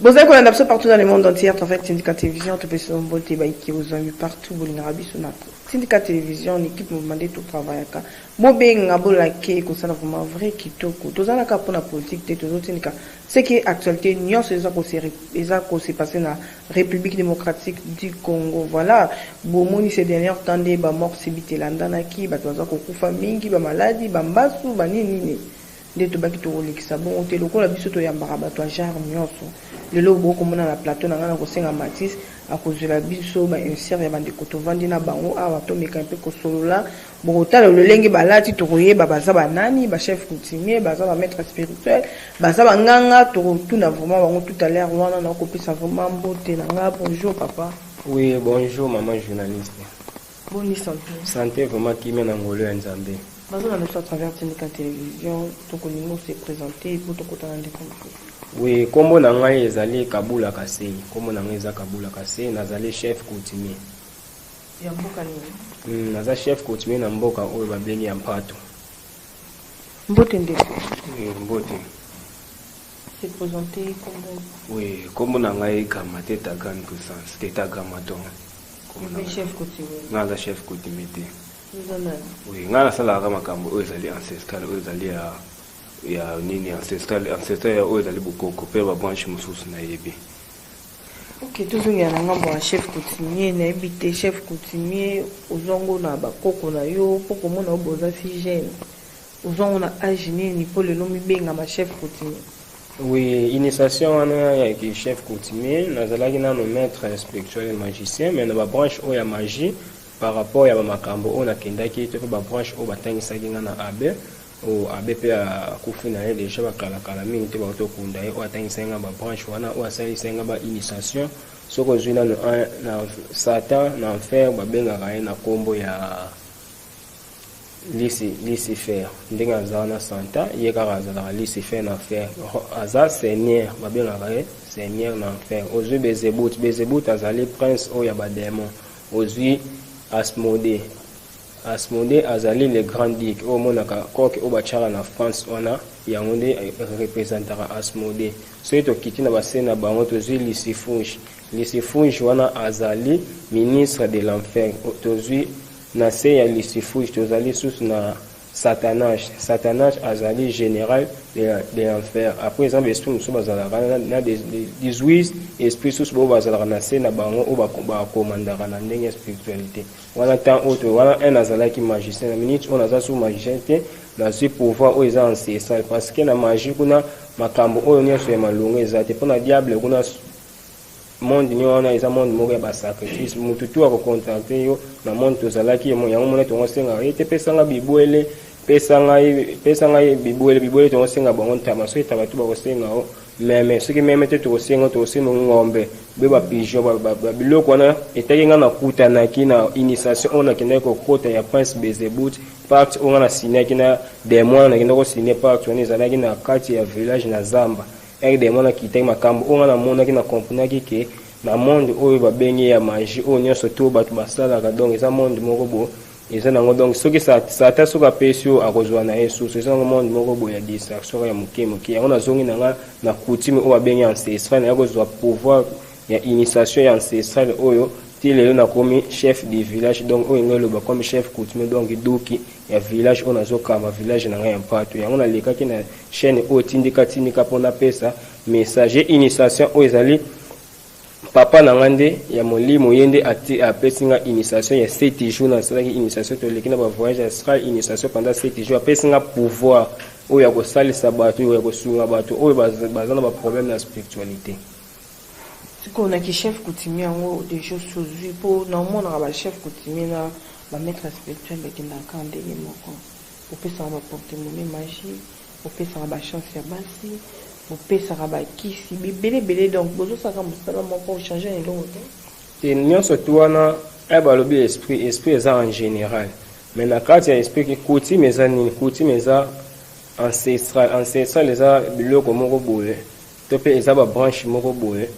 bozali kolanda biso partout dans le monde entier à travers tindika télévision topesi no mbote baike bozwami partout bolingaka biso na tindika télévision na équipe mouvement nde totravaillaka Bobenga bolake ekosala vraiment vrai kitoko toza na kaka pona politique te tozo tindika ce qui est actualite nionso eza ko se eza ko se passer na Republique democratique du Congo voila bomoni ce dernier temps nde ba morts subite elandanaki batu baza kokufa mingi ba maladi ba mbasu ba nini nini Nde tobaki tokolekisa bongo te lokola biso toyambaka bato ya genre nionso. Lelo oyo bokoki komona na plateau na ngai nakosenga Mathis akozwela biso ba inserts ya ba ndeko tovandi na bango awa tomeka un peu kosolola, bokotala lolenge balati tokoyeba baza ba nani, ba chefs coutumiers, baza ba maitres spirituels, baza ba nganga, tokotuna vraiment bango tout à l'heure wana nakopesa vraiment mbote na ngai, bonjour papa. Oui bonjour maman journaliste. Boni sante. Sante vraiment kimia na ngolu ya Nzambe. Bazo landa biso à travers Tindika Television, toko lingo se presenter pour toko tala ndeko mokolo. Oui, kombo na ngai ezali Kabula Kasei. Kombo na ngai eza Kabula Kasei, nazali chef coutumier. Ya mboka nini? Mm, naza chef coutumier na mboka oyo babengi ya Mpato. Mbote ndeko. Mm, mbote. Se presenter kombo. Oui, kombo na ngai Gama Teta Grande Puissance, Teta Gama Ton. Chef coutumier. Nga za chef coutumier te. Oui, nga nasalaka makambo oyo ezali ancestral, oyo ezali ya ya nini ancestral, ancestral ya oyo ezali bokoko mpe ba branche mosusu nayebi. Ok, tozongela na ngambo ya chef coutumier, nayebi te chef coutumier ozwango na bakoko na yo mpo komona yo boza si jeune. Ozua ngo na age nini po lelo omibengama chef coutumier? Oui, initiation wana ya ki chef coutumier nazalaki nanu maitre spirituel et magicien mais na ba branches oyo ya magie par rapport ya ba makambo oyo nakendaki to pe ba branches oyo batangisaki nga na abbe oyo abbe pe akufi na ye dejà ba kala kala mingi te bauti kokunda ye oyo atangisaki nga ba branches wana oyo asalisaki nga ba initiation soki ozui nanu un na satan na enfer babengaka ye na kombo ya Lisi lisi fer ndenge aza na santa ye kaka azalaka lisi fer na fer aza seigneur babengaka ye seigneur na enfer ozwi bezebut bezebut azali prince oyo ya bademon ozwi asmode asmode azali le grand duc oyo omonaka coke oyo batyaka na france wana yango nde representaka asmode soki tokiti na base na bango tozwi lisifuge lisifuge wana azali ministre de l'enfer tozwi Na se ya Lucifuge tozali lisusu na Satanaj. Satanaj azali general de l'enfer. Apres eza na ba esprits mosusu bazalaka na 18 esprits susu oyo bazalaka na se na bango oyo ba commandaka na ndenge ya spiritualite. Wana temps oyo to wana un nazalaki magicien na minute oyo naza susu magicien te nazwi pouvoir oyo eza ancestral parce que na magie kuna makambo oyo nionso ya malonga eza te mpo na diable kuna monde nio wana eza monde moko ya ba sacrifice mutu tu ako contacter yo na monde tozalaki yango mona tongo senga ye te pesa nga bibwele pesa nga pesa nga bibwele bibwele tongo senga bango ntama so etaba tu bako senga o meme soki meme te toko senga toko senga ngombe be ba pigeon ba, ba, ba biloko wana etaki nga na kutanaki na initiation oyo nakendaki kokota ya prince bezebut parti oyo nga na signaki na demon nakendaki kosigne parti wana ezalaki na kati ya village na zamba RDM wana akitaki makambu oyo nga na monaki na comprenaki ke na monde oyo ba bengi ya magie oyo nionso tout batu ba salaka donc eza monde moko bo eza nango donc soki sa satan soki apesi yo akozua na ye susu eza nango monde moko bo ya distraction ka ya moke moke yango na zongi na nga na coutume oyo ba bengi ancestral na ya kozua pouvoir ya initiation ya ancestral oyo ti lelo na komi chef du village donc oyo nga eloba comme chef coutume donc duki ya village oyo nazokamba village na ngai ya mpatu yango nalekaki na chaîne oyo tindika tindika mpo napesa message ye initiation oyo ezali papa na ngai nde ya molimo ye nde apesi ngai initiation ya sete jour nasalaki initiation toleki na bavoyage astral initiation pendant sete jour apesi ngai pouvoir oyo ya kosalisa bato oyo ya kosunga bato oyo baza na baproblème na spiritualité Sikoyo na ki chef coutumier yango dejoss ozui po na omonaka ba chef coutumier na ba maitre spirituel bakendaka kaka ndenge moko bopesaka ba porte monnaie magie bopesaka ba chance ya basi bopesaka ba kisi bibele ebele donc bozosala kaka mosala moko ochange na eloko te te nyonso tu wana eh, balobi esprit esprit eza en general mais na kati ya esprit ki coutume eza nini coutume eza ancestral ancestral eza biloko moko boye To pe eza ba branche moko boye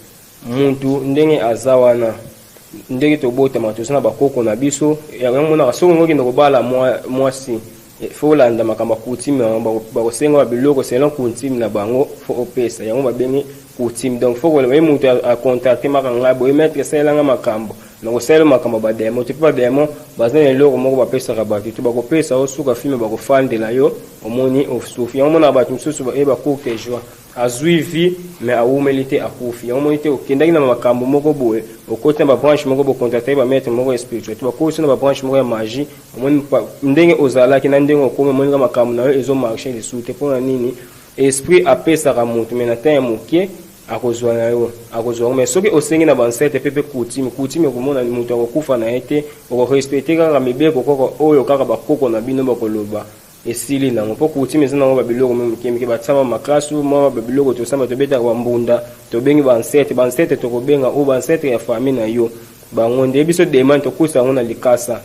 mutu ndenge aza wana ndenge tobotama toza na bakoko na biso yango monaka soki olingi okende kobala mwasi eh, fo olanda makambo ya coutume yango bakosenga ba biloko selon coutume na bango fo opesa yango babengi coutume donc fo koloba ye moto acontracte maka ngai boye maître esalela ngai makambo nakosalela makambo ya bademo te mpe bademo baza na eloko moko bapesaka bato te bakopesa osuka filme bakofandela yo omoni osufi yango monaka bato mosusu baye bacourte joie Azui vie mais awumeli te akufi yango omoni te okendaki na makambu moko boye okoti na ba branche moko bo contactaki ba maitre moko ya spiritualite ba kotisi yo na ba branche moko ya magie omoni ndenge ozalaki na ndenge okomi omoni ka makambu na yo ezo marche lisusu te pona nini esprit apesaka mutu mais na temps ya mukie akozua na yo akozua yango mais soki osengi na ba ancêtre pe pe coutume coutume okomona mutu akokufa na ye te oko respecter kaka mibeko koko oyo kaka ba koko na bino bako loba esili nango mpo coutume eza nango babiloko mwa mike mike batiama maklasu mwa babiloko tosamba tobetaka bambunda tobengi bansete bansete tokobenga o bansete ya fami na yo bango nde biso demande tokusa yango na likasa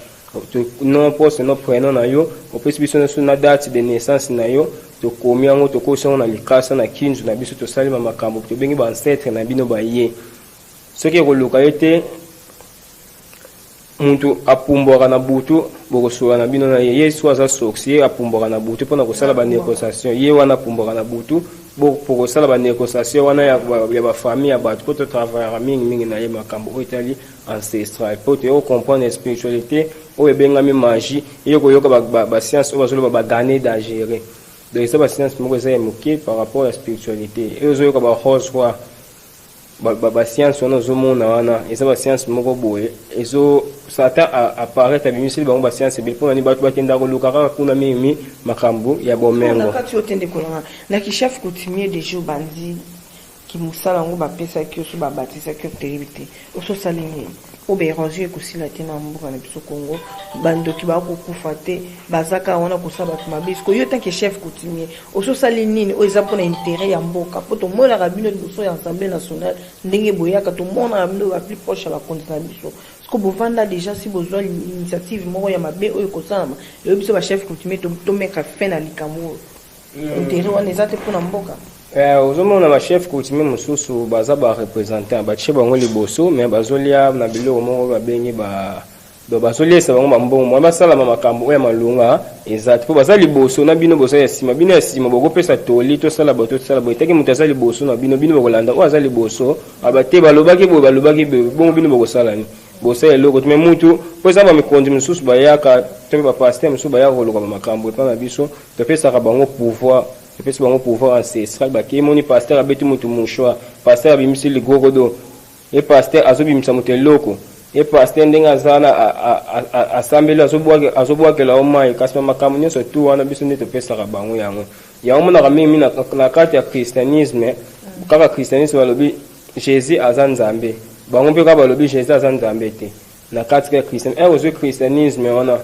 non poste no prenom na yo opesi biso nyonso na date de naissance na yo tokomi yango tokosi yango na likasa na kinzu na biso tosalima makambo tobengi bansetre na bino baye soki ekoluka ye te Mutu apumbwaka na butu bokosola na bino na ye. Yesu aza sorcier apumbwaka na butu pona kosala ba negociation. Ye wana apumbwaka na butu bo pokosala ba negociation wana ya ya ba famille ya batu po to travaillaka mingi mingi na ye makambu oyo etali ancestral po toye ko comprendre spiritualite oyo ebengami magie eye koyoka ba ba ba science oyo bazoloba ba gane dagere. Donc eza ba science moko eza ya muke par rapport ya spiritualite. Ezo yoka ba rose roi. ba, ba, ba science wana ozomona wana eza ba science moko boye ezo satan apparaître abimiseli bango ba science ebele mpo na nini bato bakenda koluka kaka kuna mingi makambo ya bomengo kati otende kolanga na kishaf coutumier de jour bandi kimosala yango bapesaki yo so babatisaki yo toyebi te ososali nini oyo baerosion ekosila te na mboka na biso congo bandoki bakokufa te bazaka wana kosala bato mabe sikoyo yo tanke chef coutumier osi osali nini oyo eza mpona interet ya mboka mpo tomonaka bino liboso ya assemblée nationale ndenge boyaka tomonaka bino ba plus proche ya bakonzi na biso siko bovanda déjà si bozwa initiative moko ya mabe oyo ekosalama eyo biso bachef coutumier tomeka fin na likambo oyo hmm. interet wana eza te mpona mboka eh, ozomona bachef coutumier mosusu baza bareprésentant batie bango liboso mais bazolia na biloko moko babengi ba Donc bazo liesa bango ma mbongo mwa basalama makambo oyo ya malonga eza te po baza liboso na bino boza ya sima bino ya sima boko pesa toli tosala boye tosala boye etake moto aza liboso na bino bino bokolanda oyo aza liboso aba te balobaki boye balobaki boye bongo bino bokosala ni bosala eloko te me mutu po eza ba mikonzi mosusu bayaka to pe ba pasteur mosusu bayaka koloka ba makambo epa na biso topesaka bango pouvoir topesi bango pouvoir ancestral bakei moni pasteur abeti mutu mouchoir pasteur abimisi ligogodo Ye pasteur azo bimisa moto eloko. Ye pasteur ndenge aza wana asambeli azo bwakela yo mayi kasi ba makambo nionso tout wana biso nde topesaka bango yango. Yango omonaka mingi mingi na kati ya christianisme kaka christianisme balobi Jesus aza Nzambe. Bango mpe kaka balobi Jesus aza Nzambe te na kati ya christianisme. Heure ozui christianisme wana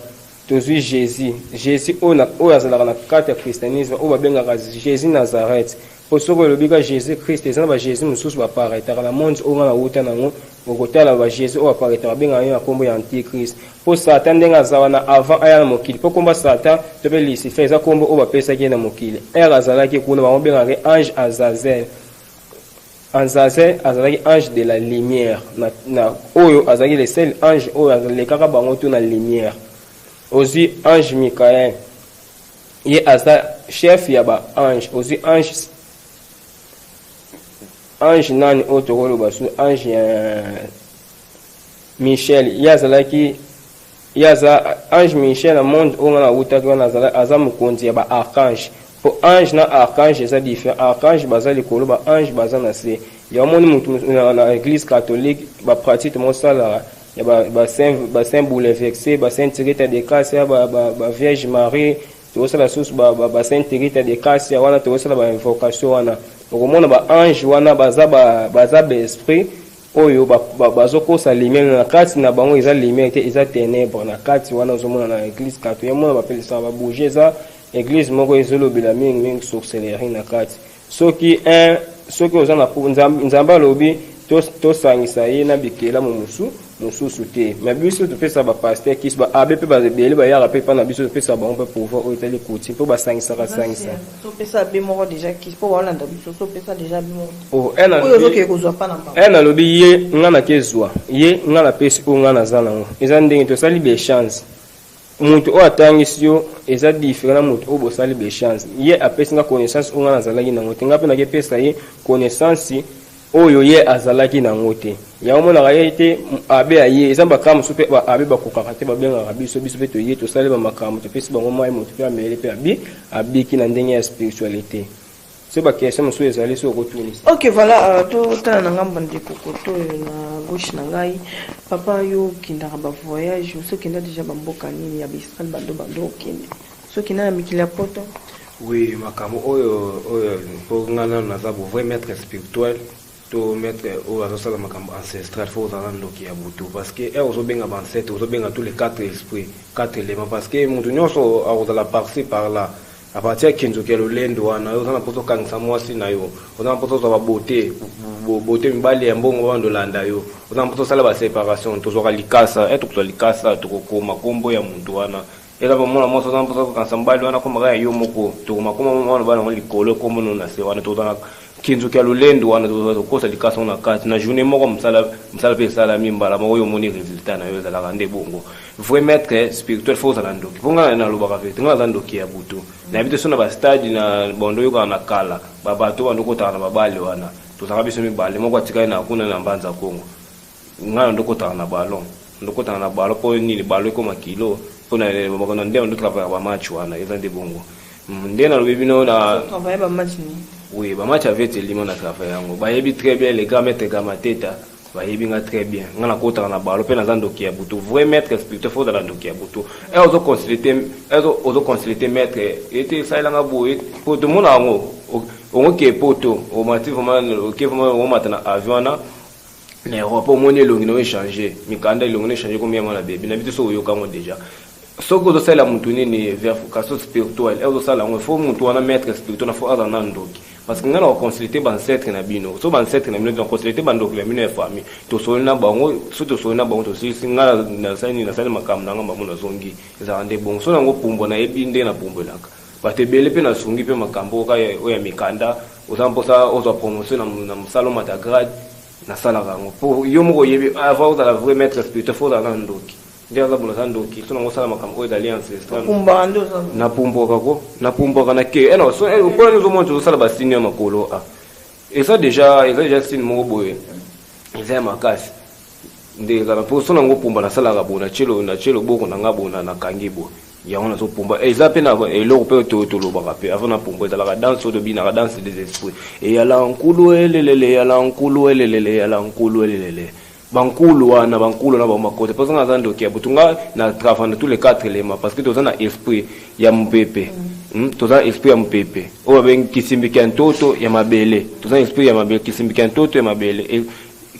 Tozui Jesus, Jesus oyo na oyo azalaka na kati ya christianisme oyo babengaka Jesus Nazareth. Po soki olobi kaka Jesus Christ, eza na ba Jesus mosusu ba paraitaka na monde oyo nga na wuta na yango, okotala ba Jesus oyo ba paraitaka babengaka ye na kombo ya antichrist. Po Satan ndenge aza wana avant aya na mokili, po kombo ya Satan to pe Lucifer eza kombo oyo bapesaki ye na mokili, heure azalaki kuna bango babengaka ye ange Azazel. Anzazin azalaki ange de la lumière na na oyo azalaki le seul ange oyo alekaka bango tout na lumière ozui ange Michael ye aza chef ya ba ange ozui ange ange nani oyo tokoloba su ange ya Michel ye azalaki Ye aza ange musicien na monde oyo nga na wutaki wana azalaki aza mokonzi ya ba archange po ange na archange eza different archange baza likolo ba ange baza na se ya omoni mutu na eglise catholique ba pratique mo salaka ya ba ba saint ba saint boule vexe ba saint tirita de casia ba ba ba vierge marie to sala susu ba ba ba saint tirita de casia wana to sala ba invocation wana okomona ba ange wana baza ba baza ba esprit Oyo bazo kosa lumière na kati na bango eza lumière te eza tenèbres na kati wana ozo mona na eglise katu ya mona ba pelisa ba bougie eza eglise moko ezo lobela mingi mingi sorcellerie na kati soki un soki oza na nzambe alobi to to sangisa ye na bikela mu musu mususu te mais biso to pesa ba pasteur kis ba abe pe ba bele ba yaka pe pa na biso to pesa bango pe pouvoir oyo etali coutume po ba sangisa ka sangisa To pesa be moko deja kiss po baolanda biso to pesa deja be moko. Oh, elle a Oyo ozokeye kozwa pa na mbango. Elle alobi ye nga na ke zwa ye nga na pesi oyo nga naza nango eza ndenge tosali ba échange moto oyo atangisi yo eza different na moto oyo bosali ba échange ye apesi nga connaissance oyo nga nazalaki nango te nga mpe nakepesa ye connaissance oyo ye azalaki na yango te. Yango omonaka ye te abe aye eza bakara mosusu mpe baabe bakokaka te babengaka biso biso mpe toye tosali bamakambo topesi bango mai moto mpe amele mpe abi abiki na ndenge ya spiritualité so bakestion mosusu ezali so okotunisa ok voilà euh, totala na ngambo ndeko koto oyo na gauche na ngai papa yo okendaka bavoyage osi okenda deja bamboka nini ya baisrael bando bando okende soki na na mikili ya poto oui makambo oyo oyo mpo ngai nano naza bovrai maître spirituel to maître oyo azosala makambo ancestral fo ozala ndoki ya butu parce que heure ozobenga baancetre ozobenga tous les quatre esprit quatre élément parce que moto nyonso akozala parci par là à partir ya kinzoki ya lolendo wana oza na mposa okangisa mwasi na yo oza na mposa ozwa babote bote mibali ya mbongo bando olanda yo oza na mposa osala baséparation tozwaka likasa etre kozwa likasa tokokoma nkombo ya moto wana Eza ba mwana mwasi oza mposa kokanisa mbali wana komaka ya yo moko tokoma koma mwana bana ngo likolo kombo no na se wana tozana kinzuki ya lolendo wana tozala kokosa likasa ngo na kati na journée moko mosala mosala mpe esalami mbala moko yo omoni résultat na yo ezalaka nde bongo vrai maître spirituel fo ozala ndoki mpo ngai nalobaka verité ngai naza ndoki ya butu mm. nayebi te so na bastade na bando oyokaka na kala babato bando okotaka na babale wana tozalaka biso mibale moko atikali na kuna na mbanza kongo Nga na ndokotaka na ballon ndokotaka na ballon po nini ballon ekoma kilo po na bako na nde na ndo travailler ba match wana eza nde bongo nde na lobi bino na travailler ba match ni oui ba match avec Elima na travailler yango bayebi très bien les grands maîtres Gamateta bayebi nga très bien nga na kotaka na ballon pe naza ndoki ya butu vrai maître spirituel faut la ndoki ya butu et ozo consulter ozo ozo consulter maître ete salela nga boye po to mona yango ongo ke poto o mati vraiment ke vraiment o matana avion na na Europe omoni elongi na yo echange mikanda elongi na echange komi yango na bebi na biso soki oyoka yango deja soki ozosalela mutu nini vercation spirituel e ozosala yango fo mutu wana maître spirituel na fo aza na ndoki parce que ngai na koconsulte bancetre na bino so bancetre na bino na consulte bandoki na bino ya famille tosoli na bango so tosoli na bango tosilisi ngai nasali nini nasali makambo na ngai bamo nazongi ezalaka nde bongo so nango pumbo nayebi nde napumbwelaka Bato ebele mpe nasungi mpe makambo oka oyo ya mikanda oza na mposa ozwa promotion na mosala omata grade nasalaka yango mpo yo moko oyebi avant ozala vrai maître spirituel fo ozala na ndoki nde aza bola aza ndoki so nango osala makambo oyo ezali ancestral napumbwaka ko napumbwaka na ke ena so mpo ena ozomona tozosala basini ya makolo a eza deja eza deja sini moko boye eza ya makasi nde kaka mpo sona yango pumba nasalaka bo natye loboko na ngai bo nakangi bo yango nazopumba eh, eza mpe na eloko mpe to tolobaka mpe avant napumba ezalaka danse oyo tobinaka danse des esprits eyala nkulu elelele eyala nkulu elelele eyala nkulu elelele bankulu wana bankulu na bamakota mposa nga aza ndoki ya butu nga na travail na tous les quatre éléments parce que toza na esprit ya mopepe hmm? toza na esprit ya mopepe oyo babengi kisimbiki ya ntoto ya mabele toza na esprit ya mabele kisimbiki ya ntoto ya mabele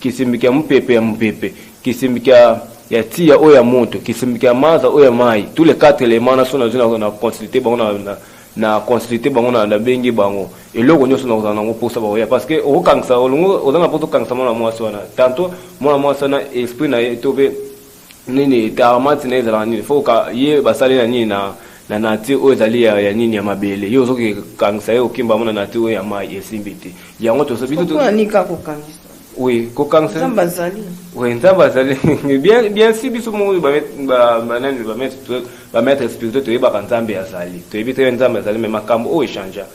Kisimbi kya mupepe ya mupepe, kisimbi kya ya tia oyo ya moto, kisimbi kya maza oyo ya mayi, tous les quatre elements naso nazui na na consulter bango na, na na consulter bango na nabengi bango eloko nionso na kozala nango posa bakoya parce que okokangisa olongo oza na posa okangisa mwana mwasi wana tanto mwana mwasi wana esprit na ye to pe nini tarmati na ezalaka nini fo ka ye basali na nini na na nature oyo ezali ya, ya nini ya mabele yo ozoki kangisa ye okimba mo na nature oyo ya mai esimbi te yango toso biso to nika kokangisa oui kokangisa nzambe azali oui nzambe azali bien bien si biso mo ba ba ba nani ba maître ba maître spirituel toyebaka nzambe azali toyebi te nzambe azali mais makambo oyo echangea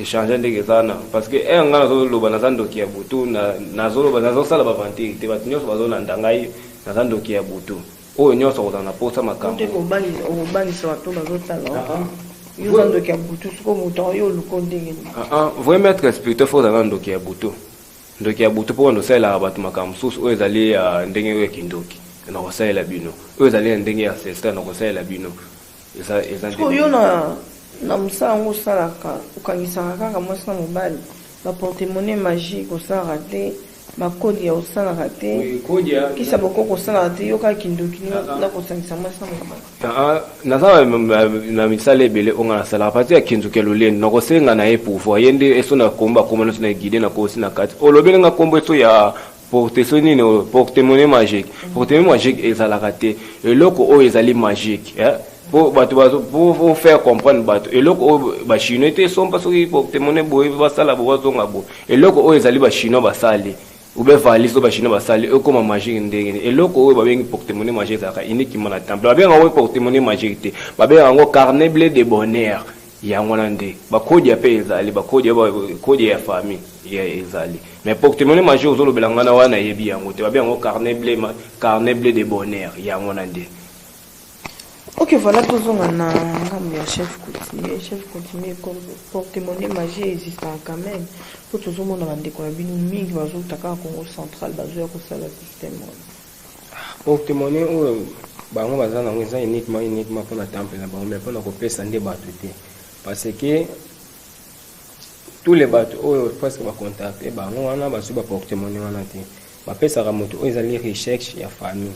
Echange ndenge eza na parce que heure nga nazo loba naza ndoki ya butu na nazo loba nazo sala ba ventile te bato nyonso bazo landa ngai naza ndoki ya butu oyo nyonso akozala na posa makambo te kobangisa okobangisa bato bazo tala ah, ah. yo oza ndoki ya butu soko moto yango yo oluko ndenge nini ah, vrai maître spirituel fo ozala ndoki ya butu ndoki ya butu mpo wanda osalelaka bato makambo mosusu oyo ezali ya ndenge oyo ya kindoki na kosalela bino oyo ezali ya ndenge ya ancestral na kosalela bino eza eza sikoyo yo na na mosala yango osalaka okangisaka kaka mwasi na mobali baportemone magique osalaka te bakodia osalaka te kisa bokoko osalaka te yo kaka kindoki na kosangisa mwasi na mobali naza na misala ebele oyo nga nasalaka pati ya kinzoki ya lolendo nakosenga na ye pouvoir ye nde eso na kombo akomba nyonso na guide nakosi na kati olobeli nga kombo eso ya porteso nini oyo portemone magique portemone magique ezalaka te eloko oyo ezali magique eh? po bato po faire comprendre bato eloko oyo bachinois te sompa soki portemone boye basala bo bazonga bo eloko oyo ezali bachinois basali obe valise oyo bachinois basali ekoma magique ndenge nini eloko oyo babengi portemone magique ezalaka uniquement na temple babengaka yango portemone magique te babengaka yango carnet bleu de bonheur Yango wana nde ba kodia pe ezali ba kodia ba kodia ya famille ya ezali mais portemone major ozo lobela ngana wana na yebi yango te ba benga ngo carnet ble ma carnet ble de bonheur yango wana nde Ok, voilà, tozonga na ngambo ya chef coutumier. Chef coutumier, porte-monnaie magie existe quand même. Po tozomona bandeko na bino mingi bazouta kaka Congo central bazoya kosala système wana. Porte monnaie oyo bango baza nango eza uniquement uniquement pona temple na bango mais pona kopesa nde batu te parce que tous les batu oyo presque ba contacter bango wana bazwi ba porte monnaie wana te bapesaka moto oyo ezali recherche ya famille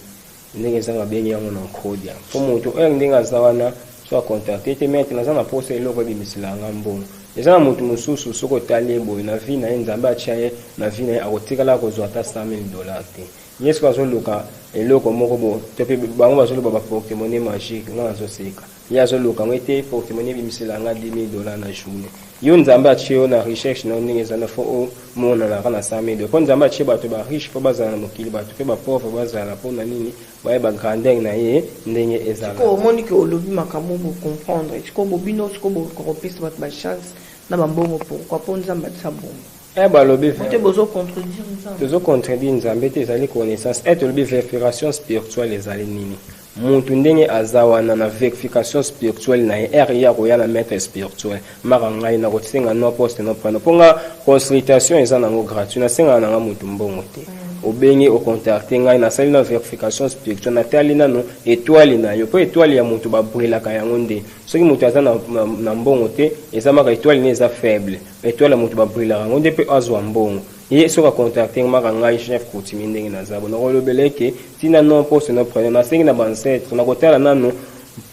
ndenge eza babengi yango na nkodia mpo moto oyo ndenge aza wana so akontakte te mete naza na posa eloko ebimisela yanga mbongo eza na moto mosusu soki otali ye boye na vi na ye nzambe atya ye na vi na ye akotikala kozwa ata 100 000 dollar te Ye soki azo luka eloko moko bo to pe bango bazo loba ba porte monnaie magique nga nazo seka ye azo luka ngo ete porte monnaie ebimisela nga 10000 dollars na journee yo nzambe atie yo na recherche na yo ndenge eza na fo o mona na ka na 100000 dollars po nzambe atie bato ba riche po bazala na mokili bato pe ba pauvre bazala po na nini baye ba grandeur na ye ndenge ezala siko omoni ke olobi makambo bo comprendre siko bo bino siko bo koropesa bato ba chance na ba mbongo pourquoi po nzambe atia bongo Eh balobi vrai. Bote bozo contredire Nzambe. Tozo contredire Nzambe te ezali connaissance. Eh tolobi verification spirituelle ezali nini? Mutu ndenge aza wana na verification spirituelle na ye heure ye akoya na maître spirituel maka ngai na kosenga no poste no prano mpo nga consultation eza nango gratuit nasengaka na nga mutu mbongo te mm. obengi ocontacte ngai nasali na verification spirituelle natali nano etoile na yo mpo etoile ya mutu babrelaka yango nde soki mutu aza na, na, na mbongo te eza maka etoile ne eza faible Etoile ya mutu ba brillaka ngo nde pe azwa mbongo. Ye soki a contacter maka ngai chef coutumier ndenge naza boye nako lobela ye ke tina nom poste nom prenom nasengi na ba ancetres nako tala nanu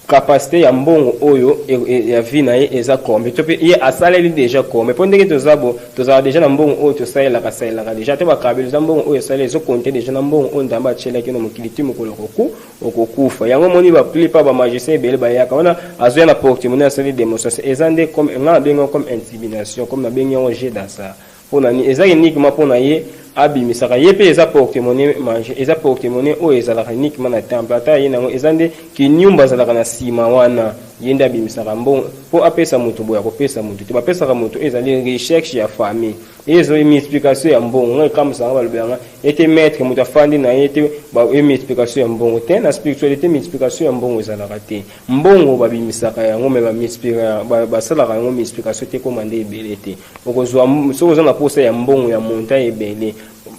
capacite ya mbongo oyo ya vie na ye eza combien to pe ye asaleli deja combien po ndenge toza bo tozalaka deja na mbongo oyo tosalelaka salelaka deja ata ba kabelo eza mbongo oyo esali ezo compter deja na mbongo oyo Nzambe atielaki yo na mokili ti mokolo oko Okokufa yango omoni ba plus part ba magiciens ebele bayaka wana azoya na porte-monnaie asali demonstration eza nde comme nga nabengi yango comme intimidation comme nabengi yango jeu d'hasard pona nini eza uniquement pona ye abimisaka ye pe eza porte-monnaie mange eza porte-monnaie oyo ezalaka uniquement na temple ata aye na yango eza nde kiniumba azalaka na sima wana ye nde abimisaka mbongo po apesa mutu boye akopesa mutu te bapesaka mutu oyo ezali recherche ya famille ezo mi explication ya mbongo nga ekamwisaka nga balobela nga Ete maitre moto afandi na ye te ba ye multiplication ya mbongo te na spiritualite multiplication ya mbongo ezalaka te mbongo ba bimisaka yango mais ba multiplier ba salaka yango multiplication te ekoma nde ebele te okozwa soki oza na posa ya mbongo ya montant ebele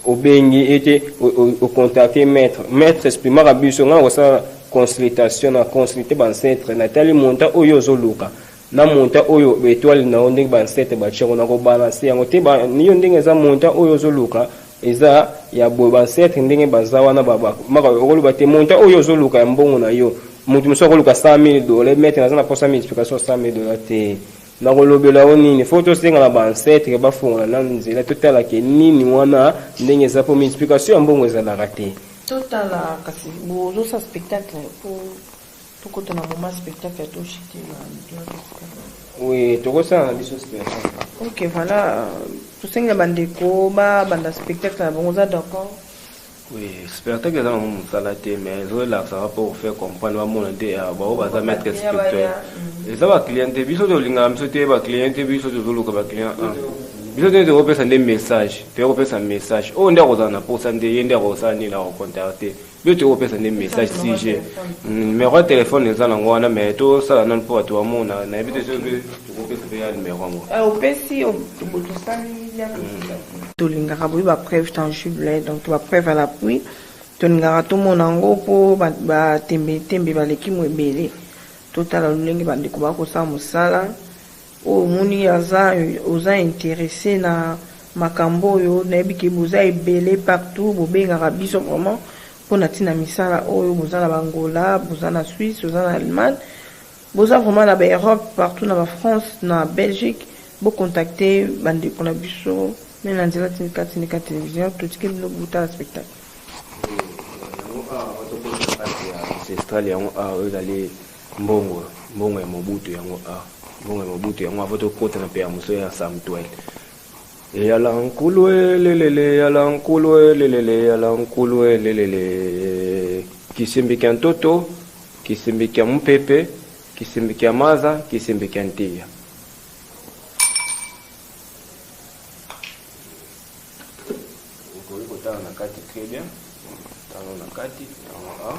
obengi ete o contacter maitre maitre esprimaka biso ngai nakosala consultation na consulter ba ancêtre na tali montant oyo ozoluka na montant oyo etoile na yo ndenge ba ancêtre ba tchengo na ko balance yango te ba yo ndenge eza montant oyo ozo luka eza ya boye ba ancêtre ndenge baza wana ba ba maka okolo ba te montant oyo ozo luka ya mbongo na yo mutu musu ko luka 100000 dollars mais na zana posa multiplication 100000 dollars te na ko lobela yo nini faut to senga na ba ancêtre ba fongola na nzela to tala ke nini wana ndenge eza po multiplication ya mbongo eza la rate to tala kasi bo zo sa spectacle pour Tokota na moment spectacle to chute na Gloire Escale. Oui, tokosala na biso spectacle. Ok, voilà. Tosenga bandeko ba banda spectacle na bango oza d'accord? Oui, spectacle eza nango mosala te mais ezolakisaka mpo kofaire comprendre bamona nde bango baza maître spirituel eza baclient te biso tolingaka biso te baclient te biso tozoluka baclient a biso nde tokopesa nde message toya kopesa message oyo nde akozala na mposa nde ye nde akosala nini akocontacte yo tokoki kopesa nde message sujet numero ya telefone eza nango wana me tosala nano mpo bato bamona nayebi te soki tokopesa mpe ya numero yango eh, opesi tolingaka boyi bapreuve tangible donc to bapreuve à l'appui tolingaka tomona yango mpo batembetembe baleki mo ebele totala lolenge bandeko bakosala mosala Oyo omoni aza oza interesse na makambo oyo nayebi ke boza ebele partout bobengaka biso vraiment pona tina misala oyo boza na ba Angola boza na Suisse boza na Allemagne boza vraiment na ba Europe partout na ba France na Belgique bo contacte ba ndeko na biso meme na nzela tindika tindika television totike bino botala spectacle. Yango awa bato bozala kati ya ancestral yango awa ezali Mbongo mbongo ya mobutu yango a ah, mbongo ya mobutu yango avo tokota na pea mosusu ya samutuel eyala nkulu elelele eyala nkulu elelele eyala nkulu elelele kisimbi kya ntoto kisimbi kya mopepe kisimbi kya maza kisimbi kya ntiya okoki kotala na kati très bien tala na kati yango a ah.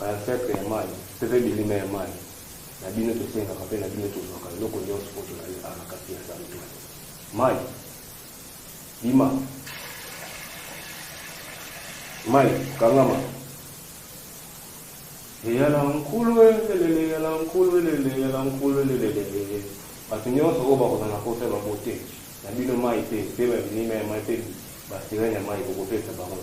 Ba infetre ya mayi peve bilima ya mayi na bino tosengaka pe na bino tozwaka eloko nionso po tozali awa na kati ya santuaire mayi bima mayi kangama eyala nkulu elelele eyala nkulu elelele eyala nkulu elelele bato nionso oyo bakozala na posa ya ba bote na bino mayi pe pe ba bilima ya mayi pe ba sirene ya mayi bokopesa bango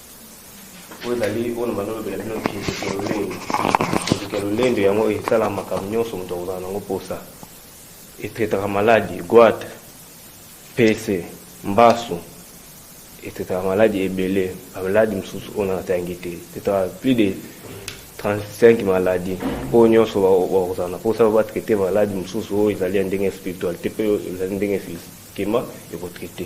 oyo ezali oyo na balolobela bino kinziki ya lolendo kinziki ya lolendo yango esala makambo nyonso moto akozala nango mposa etraitaka maladi gwate pese mbasu etraitaka maladi ebele bamaladi mosusu oyo natayangi te etraitaka plus de 35 maladi oyo nyonso bakozala na mposa babatraite maladi mosusu oyo ezali ya ndenge spiritualité mpe ezali ndenge physiquement ekotraite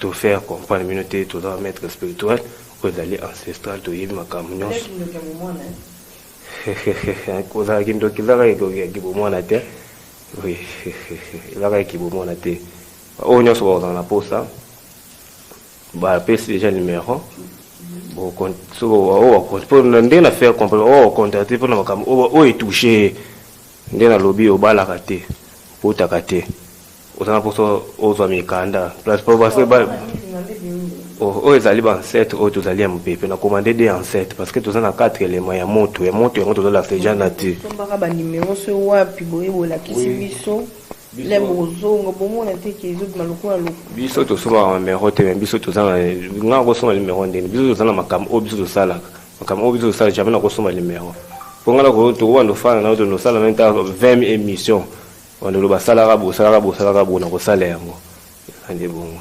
To faire comprendre bino te toza ba maître spirituel oyo ezali ancestral toyebi makambo nyonso kozala kindoki ezaka ekoki bomwana te oui ezaka eki bomwana te oyo nyonso bakozala na posa bapesi déjà numéro ndenge na faire comprendre oyo ocontacte mpona makambo oyo etouche nde nalobi obalaka te okotaka te oza na poso ozwa mikanda place po basi ba oh, oyo ezali bansete oyo tozali ya mopepe na commande de ansete parce que toza na quatre élément ya moto ya moto yango tozolakisa eja nature tombaka banimero so wapi boye bolakisi biso le bozongo bomona te ke ezobima lokola loko biso tosombaka numero te me biso toza na nga kosomba numero ndeni biso toza na makambo oyo biso tosalaka makambo oyo biso tosalaka jamai nakosomba numero mpo ngai nakotokobanda ofana na yo tonosala na nta 20 émission Banda oloba salaka bo salaka bo salaka bo na kosala yango eza nde bongo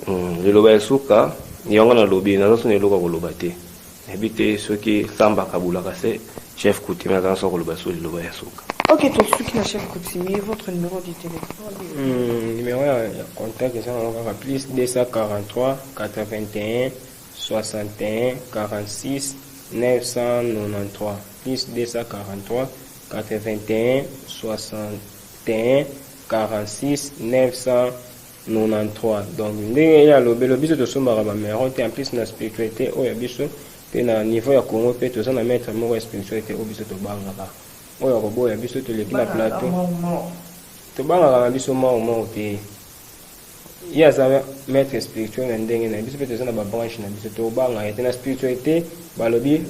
hmm, liloba ya suka yango nalobi naza soni eloko ya koloba te nayebi te soki samba kabulaka se chef coutumier aza naso koloba so liloba ya suka ok tosuki na chef coutumier votre numéro du téléphone hmm, numéro ya contact eza nango kaka plus 243 81 6186 donc ndenge ye alobelo biso tosombaka ba mero te en plus na spiritualite oyo ya biso pe na niveau ya congo pe toza na maitre moko ya spiritualite oyo biso tobangaka oyo akoboya biso toleki na plateau tobangaka na biso mao mao te ye aza maître spirituel na ndenge na biso mpe toza na babranche na biso tobanga ye te na spiritualité balobi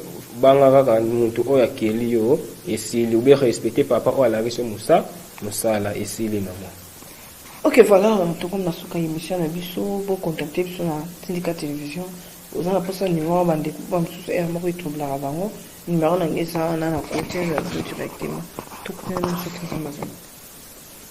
banga kaka mutu oyo akeli yo esili ube respecte papa oyo alakisi yo mosa mosala esili mama ok voilà tokomi na suka ya émission na biso bocontacte biso na tindika télévision oza na mposa numéro ya bandeko ba mosusu ere moko etroublaka bango numéro na ngai eza wana na kote ya directement tokutana na biso tozamazana